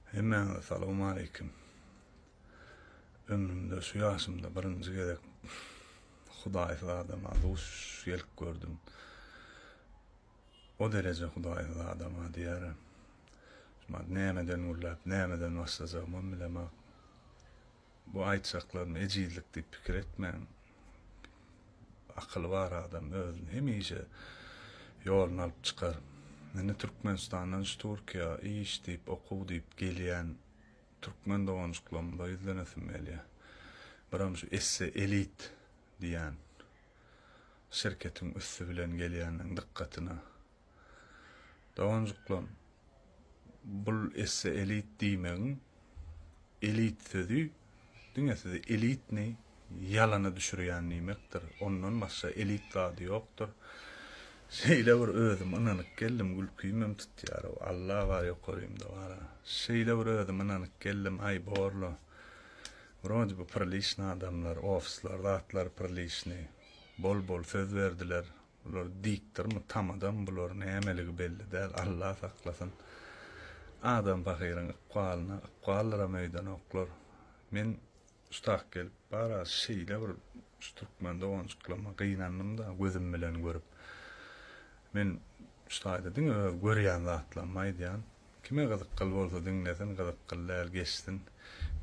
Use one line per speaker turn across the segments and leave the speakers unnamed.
Hemmäňize salowmaleýkim. Ömrümde şu ýaşymda birinji gezek hudaýsyz adama duş gelip gördüm. O dereje hudaýsyz adama diýarem. Näme den gürläp, näme den başlajagymam bilemok. Bu aýtjaklarym ejizlik diýip pikir etmäň. Akyly bar adam özüni hemişe ýoluna alyp çykar. Indi Türkmenistandan şu Turkiýa iş diýip, okuw diýip gelýän türkmen doganjyklarymyza ýüzlenesim gelýär. Biram şu Esse Elit diýýän şirketiň üsti bilen gelýänleriň dykgatyna Doganjyklarym, bul esse elit diýmegiň elit sözi diňe sizi elitni ýalana düşürýän diýmekdir. Ondan başga elit zady ýokdur. Şeýle bir özüm ynanyp geldim, gülkimem tutýar ow, Alla bar ýokarymda bar-a. Şeýle bir özüm ynanyp geldim, aý borla. Wrode by priliçny adamlar, ofisler, zatlar priliçny. Bol-bol söz berdiler, Bular dikdirmi tamadam bular nämeligi belli däl Alla saklasyn adam pahyryň ykbalyna ykbaldyram öýdenoklar men şu tak gelip bara şeýle bir şu türkmen doganjyklama gynandymda gözüm bilen görüp men şu taýda diňe öz görýän zatlarymy aýdýan Kime gyzykgyl bolsa diňlesin gyzykgyl däl geçsin.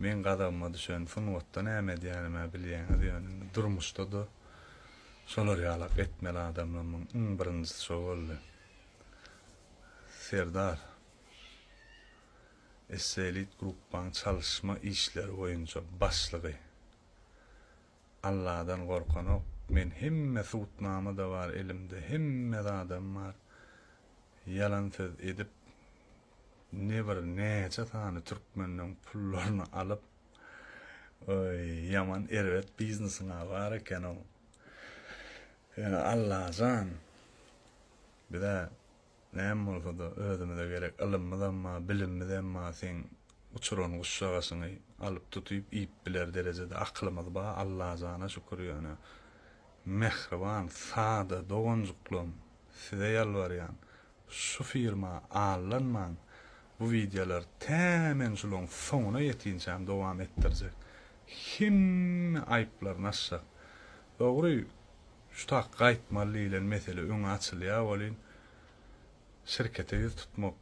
Meň gazabyma düşen sungatda näme edýänimä bilýäňiz ýöne indi durmuşda-da şolar ýalak etmeli adamlamyň iň birinjisi şo boldy. Serdar Esselit gruppaň çalyşma işleri boýunça başlygy. Alladan gorkanok men hemme subutnama da bar elimde hemme zadam bar ýalan söz edip nebir näçe sany türkmenden pullaryny alyp oý ýaman erbet biznesiňa bar ekenow ýöne Allajan bizä Näme bolsa-da, özümize gerek ylymymyzam bar, bilimimizem bar, seň uçuran guşjagasyňy alyp tutyp iýip biler derejede akylymyz bar, Allajana şükür ýöne, mähriban, sada doganjyklaň, size ýalbarýan, şu firma allanmaň, bu wideolar tä men şulaň soňuna ýetinçäm dowam etdirjek, hemme aýyplar naşşak, dogry, Şu takga aýtmaly diýilen mesele öňe açylýar welin, şirkete ýüz tutmak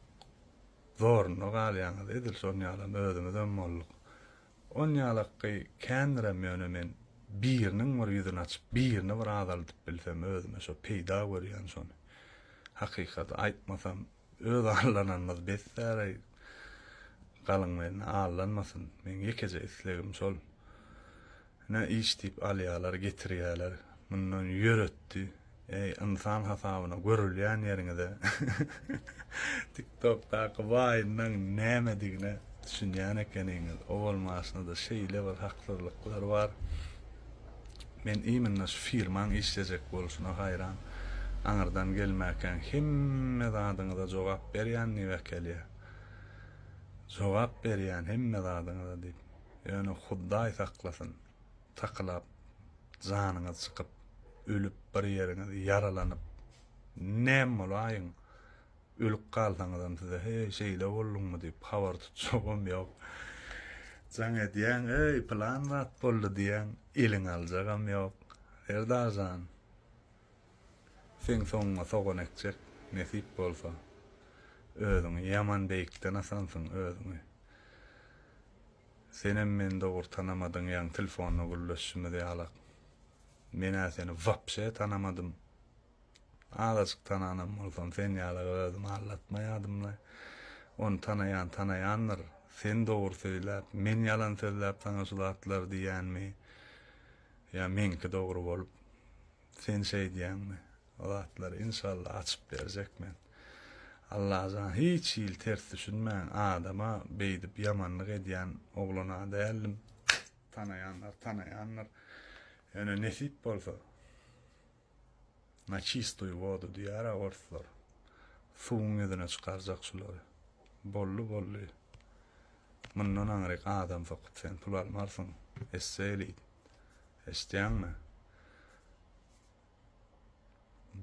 zorunda galýaňyz. Edil şon ýalam özümizem bolduk. On ýalakky kändirem ýöne men biriniň bir ýüzüni açyp, birini bir azaldyp bilsem özüme şo peýda görýän şony. Hakykaty aýtmasam. Öz allananymyz bes däl-aý. Galyň men allanmasyn. Meň ýekeje islegim şol. Ine iş diýip alýalar, getirýäler. Mundan ýöretdi. Eý, ynsan hasabyna görülýän ýeriňize. Tiktokdaky waýnlaň nämedigine düşünýän ekeniňiz. Owal maşynada şeýle bir haksyzlyklar bar. Men imynda şu firmaň işlejek bolşuna haýran. Aňyrdan gelmäkäň hemme zadyňyza jogap berýän Niwekelýa. Jogap berýän hemme zadyňyza diýip. Ýöne Hudaý saklasyn, takylap janyňyz çykyp, ölüp bir ýeriňiz ýaralanyp näm bolaýyň? Ölüp galsaňyzam size heý şeýle bolduňmy diýip habar tutjagam ýok. Jaň edýäň eý pylan zat boldy diýýäň eliňe aljagam ýok. Serdar jan seň soňuňa sogan ekjek nesip bolsa. Özüňi ýaman beýikden asansyň özüňi. Senem meni dogry tanamadyň ýaňy tilfonda gürleşişimiz ýalak. Men-ä seni wapşe tanamadym Azajyk tananam bolsam, sen ýaly gyz özümi aldatmaýadym-la. Ony tanaýan tanaýandyr. Sen dogry söýläp, men ýalan sözläp saňa şu zatlary diýýänmi? Ýa meňki dogry bolup, sen şeýdýäňmi? O zatlary inşallah açyp berjek men. Allajan, hiç hili ters düşünmän, adama beýdip ýamanlyk edýän oglan-a däldim. Tanaýanlar tanaýandyr. Ýöne nesip bolsa. Na çistoýu wodu diýýär-ä orslar. Suwuň ýüzüne çykarjak şulary. Boldy, boldy. Mundan aňryk adam sokup sen pul almarsyň, esse elit. Eşidýäňmi?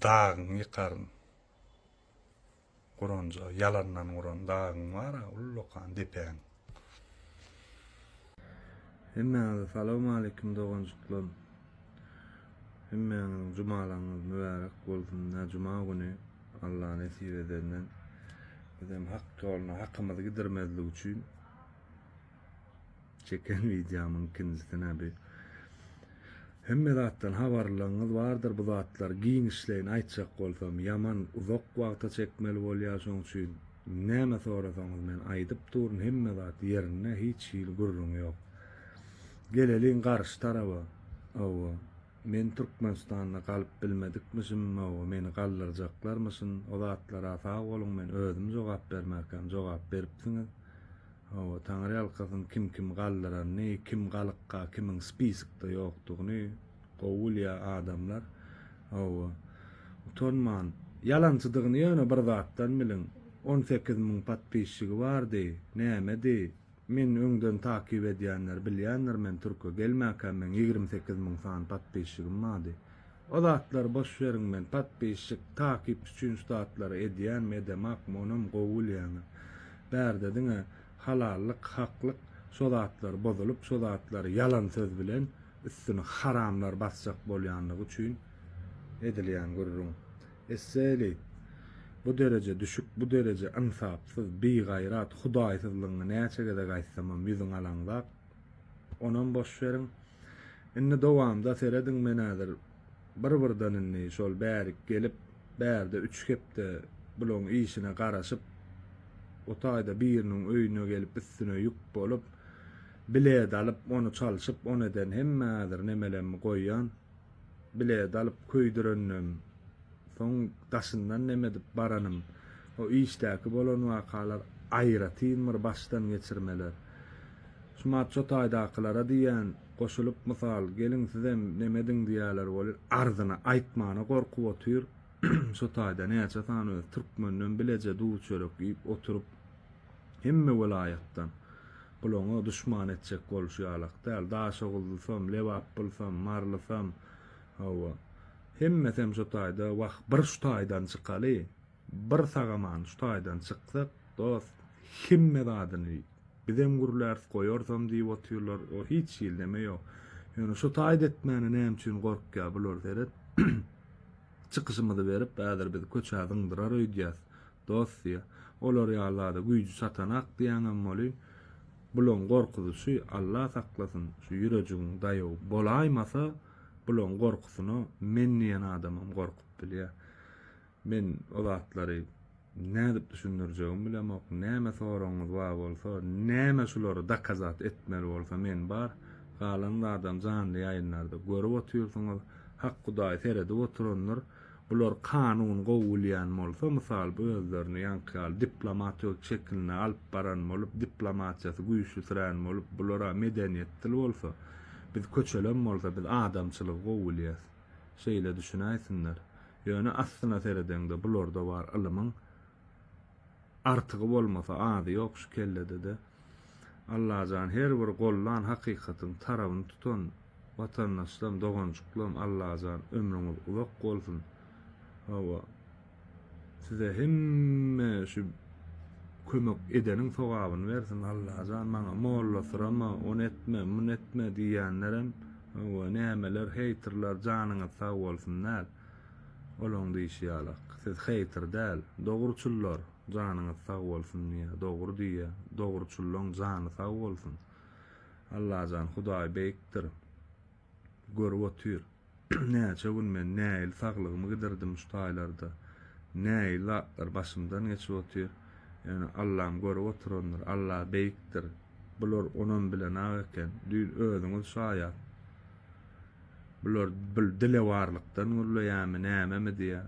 Dagyňy ýykaryn. Guranjy, ýalandan guran dagyň bar-a, ullakan depäň. Hemmäňize salawmaleýkim doganjyklarym. Hemmäňiziň jumalaryňyz mübärek bolsun. Nä juma güni Alla nesip edenden bizem hak ýoluna hakymyzy gidirmezlik üçin. Çeken wideomyň ikinjisi näbi. Hemme zatdan habarlylygyňyz bardyr bu zatlar giňişleýin aýtjak bolsam ýaman uzak wagta çekmeli bolýar şoň üçin näme sorasaňyz men aýdyp duryn hemme zat ýerinde hiç hili gürrüň ýok. Geleliň garşy taraba owo men Türkmenistanda galyp bilmedikmişim owo meni galdyrjaklarmyşyn o zatlara sag boluň men özüm jogap bermerkäm jogap beripsiňiz Hawa, taňryýalkasyn kim kim galdyranyny, kim galykka, kimiň spiskda ýokdugyny gowy bilýär adamlar. Hawa, utanman, ýalançydygyny ýöne bir zatdan biliň, on sekiz müň podpisçigi bardy, nämedi, men öňden takyp edýänler bilýändir men türke gelmäkäm meň ýigrimi sekiz müň sany podpisçigim bardy, O zatlary boş beriň men patpisçik takypçy üçin şu zatlary edýänmi edemok monam gowy bilýäňiz bärde diňe halallyk haklyk şo zatlary bozulyp şo zatlary ýalan söz bilen üstüni haramlar basjak bolýanlygy üçin edilýän gürrüň esseýli bu dereje düşük bu dereje ynsapsyz bigaýrat hudaýsyzlygyňy näçe gezek aýtsamam ýüzüňe alaňzap Onam boş beriň. Indi dowamda serediň men häzir bir birden indi şol bärik gelip bärde üç hepde bulaň işine garaşyp o taýda biriniň öýüne gelip üstüne ýük bolup bilet alyp ony çalşyp on eden hemme häzir nemelemmi goýýan bilet alyp köýdüreninem, soň daşyndan nemedip baranym, o işdäki bolan wakalar aýratyn bir başdan geçirmeler. Şumat şo taýdakylara diýýän, goşulyp mysal, geliň sizem nemediň diýýäler welin arzyny aýtmana gorkup otyr, şo taýda näçe sany öz türkmenden bileje duw-çörek iýip oturyp, Hemme welaýatdan. Gulaňa duşman etjek bolşy ýalak däl. Daşoguzlysam, lebapbylsam, marlysam, hawa, hemmesem şo taýda. Wah, bir şu taýdan çykaly. Bir sagaman şu taýdan çyksak, dost, hemme zadyny bizem gürläris, goýarsam diýip otyrlar. O hiç hili neme ýok. Ýöne şo taýda etmäne näme üçin gorkýar bular, seret. Çykyşymyzy berip, häzir bizi köçä zyňdyrar öýdýäs. Dost diýýä. Olar ýaly zada güýji çatanak diýýäňem boly. Bulaň gorkuzyşy Alla saklasyn şu ýürejigiň daýaw bolaýmasa bulaň gorkusyna men diýen adamam gorkup bilýä. Men o zatlary nädip düşündirjegimi bilemok. Näme soragyňyz bar bolsa, näme şulary dakazat etmeli bolsa men bar. Galan zadam janly ýaýynlarda görüp otyrsyňyz. Hak Hudaý seredip oturandyr. Bular kanun gowy bilýän bolsa, mysal, özlerini ýaňky ýaly diplomat öz çekinde alyp baran bolup, diplomatiýasy güýçlisirän bolup, bular-a medeniýetdil bolsa, biz köçelem bolsa, biz adamçylygy gowy bilýäs. Şeýle düşünäýsinler. Ýöne aslyna seredeňde, bularda bar ylymyň Artygy bolmasa azy ýok şu kelledede. Allajan her bir gollan hakykatyň tarabyny tutan watandaşlam doganjyklam Allajan ömrüňiz uzak bolsun hawa size hemme şu kömek edeniň sogabyny bersin Allajan maňa molla syrama ony etme muny etme diýýänlerem hawa nämeler heýtrler janyňyz sag bolsun däl. Olaň diýşi ýalak. Siz heýter däl, dogruçyllar! Janyňyz sag bolsun diýýä, dogry diýýä. Dogruçyllaň jany sag bolsun. Allajan, Hudaý beýikdir. Görüp otyr. Näçe gün men näil saglygymy gidirdim şu taýlarda. Näil zatlar başymdan geçip otyr. Ýöne Allam görüp oturandyr. Alla beýikdir. Bular onam bilenak eken. Düýn özüňiz şaýat. Bular bir dilewarlykdan gürleýärmi, nämemi diýýär.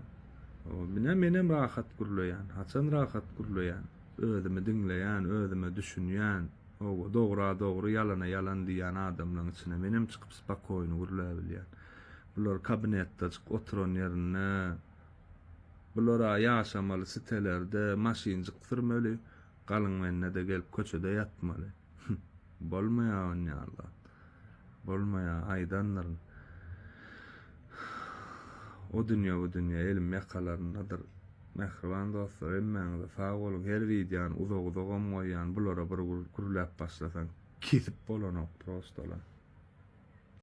Ine, menem rahat gürleýän. Haçan rahat gürleýän? Özümi diňleýän, özüme düşünýän. Hawa, dogra dogry, ýalana ýalan diýýän adamlaryň içine menem çykyp spakoýny gürläbilýän. Bular kabinetdajyk oturan ýerinde, bular-a ýaşamaly sitelerde maşynjyk sürmeli, galyň mende-de gelip köçede ýatmaly. Bolmaýar on ýaly. Bolmaýar aýdandyryn. O dünýä bu dünýä elim ýakalaryndadyr. Mähriban dostlar hemmäňize sag boluň. Her wideony uzak uzagam goýýan bulara bir gürläp başlasaň kesip bolanok prostalar.